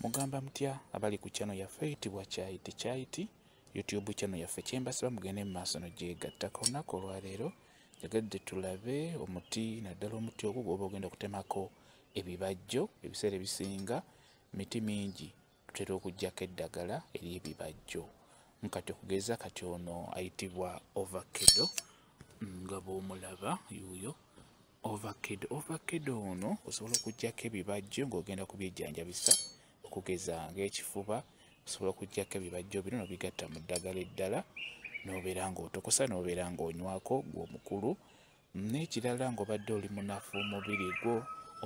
mugamba mutya abali ku kyano yaffe eyitibwa kyayiti kyayiti youtube kyano yaffe kyembasiba mugende mu maaso nogyegattaka olunaku olwaleero njagadde tulabe omuti naddala omuti ogwo gwoba ogenda okutemako ebibajjo ebiseera ebisinga miti mingi tutera okugyako eddagala eri ebibajjo nkati okugeza kati ono ayitibwa ovakedo nga bwomulaba yuuyo ovakedo ovakedo ono osobola okujjako ebibajjo ng'ogenda kubyejjanjabisa okugeza ng'ekifuba osobola okujjako ebibajjo bino nobigatta mu ddagala eddala nobeera ng'otokosa nobeera ng'onywako gw'omukulu n'ekirala ng'obadde oli munafu omubiri gwo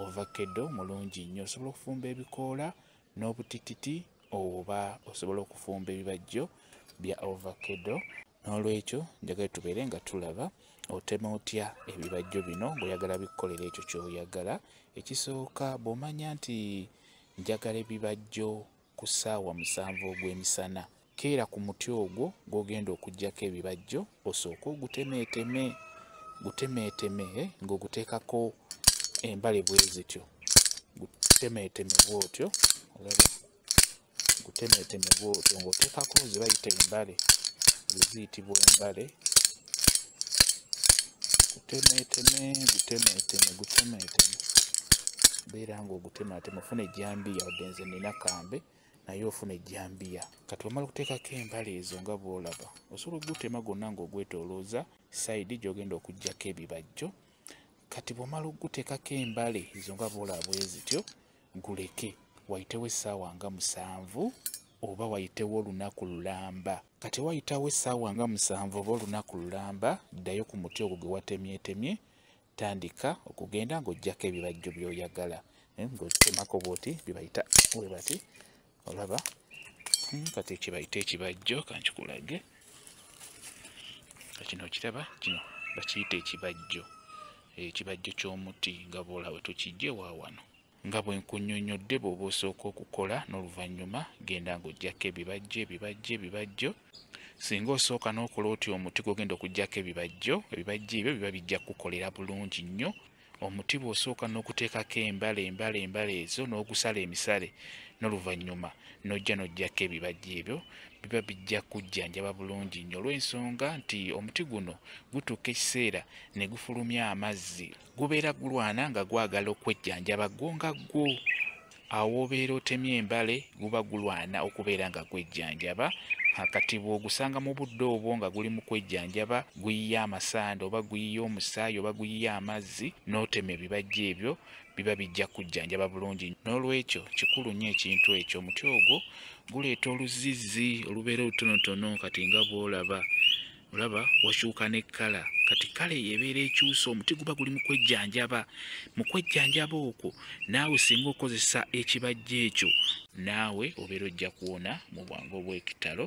ovakedo mulungi nnyo osobola okufumba ebikoola n'obutititi oba osobola okufumba ebibajjo bya ovakedo n'olwekyo njagala tubeere nga tulaba otema otya ebibajjo bino ng'oyagala bikukolera ekyo ky'oyagala ekisooka bw'omanya nti njagala ebibajjo ku ssaawa musanvu ogw'emisana keera ku muti ogwo gw'ogenda okuggyako ebibajjo osooke ogutemeeteme gutemeeteme eh, ng'oguteekako embale bwe zityo gutemeeteme bw'otyo olaba gutemeeteme bw'otyo ng'oteekako ze bayita embale eziyitibwa embale gutemeeteme gutemeeteme gutemeeteme beera ng'ogutemeeteme ofuna ejjambiya wadde nze nina kambe naye ofuna ejjambiya kati wamala okuteekako embala ezo nga bwolaba osobola okugutema gonna ng'ogwetolooza sayidi gy'ogenda okuggyako ebibajjo kati bwomala okuguteekako embale ezo nga bwolaba bwe zityo guleke wayitewo essaawa nga musanvu oba wayitewo olunaku lulamba kati wayitawo essaawa nga musanvu oba olunaku lulamba ddayo ku muti ogwo gwe watemyetemye tandika okugenda ng'ojjako ebibajjo by'oyagala eh, ng'otemako bwoti bibayita we bati olaba hmm, kati ekibayita ekibajjo kankikulage kino okiraba kino bakiyita ekibajjo ekibajjo ky'omuti nga bwolaba tukijje wa wano nga bwe nkunyonnyodde bw'oba osooka okukola n'oluvannyuma genda ng'oggyako ebibajjo ebibajjo ebibajjo singa osooka n'okola otyo omuti gwogenda okuggyako ebibajjo ebibajjo ebyo biba bijja kukukolera bulungi nnyo omuti bw'osooka n'okuteekako embala embala embala ezo n'ogusala emisale n'oluvannyuma n'ojja n'oggyako ebibajjo ebyo biba bijja kujjanjaba bulungi nnyo olw'ensonga nti omuti guno gutuuka ekiseera ne gufulumya amazzi gubeera gulwana nga gwagala okwejjanjaba gwo nga gwo awoobeera otemya embale guba gulwana okubeera nga gwejjanjaba akati bw'ogusanga mu budde obwo nga guli mu kwejjanjaba guyiya amasanda oba guyiya omusaayi oba guyiya amazzi n'otema ebibajja ebyo biba bijja kujjanjaba bulungi n'olwekyo kikulu nnyo ekintu ekyo omuti ogwo guleeta oluzizzi olubeera olutonotono kati nga bw'olaba olaba wakyuka ne kkala kati kale yebeera ekyusa omuti guba guli mukwejjanjaba mukwejjanjaba okwo naawe singa okozesa ekibajja ekyo naawe obeera ojja kuwona mu bwangu obw'ekitalo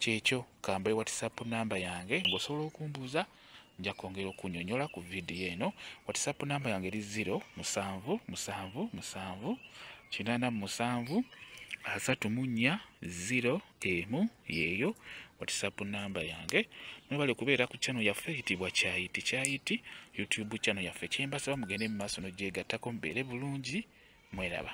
kyekyo kambaye whatsapp namba yange ngaosobola okumbuuza nja kwongera okunyonyola ku vidiyo eno whatsapp namba yange eri 0 musanvu musanvu musanvu kinana musanvu asatu mu nnya 0 emu yeeyo whatsapp namba yange mwebale kubeera ku channel yaffe eyitibwa kyayiti kyayiti youtube channel yaffe kyembasaba mugende mu maaso nogyegattako mubeere bulungi mweraba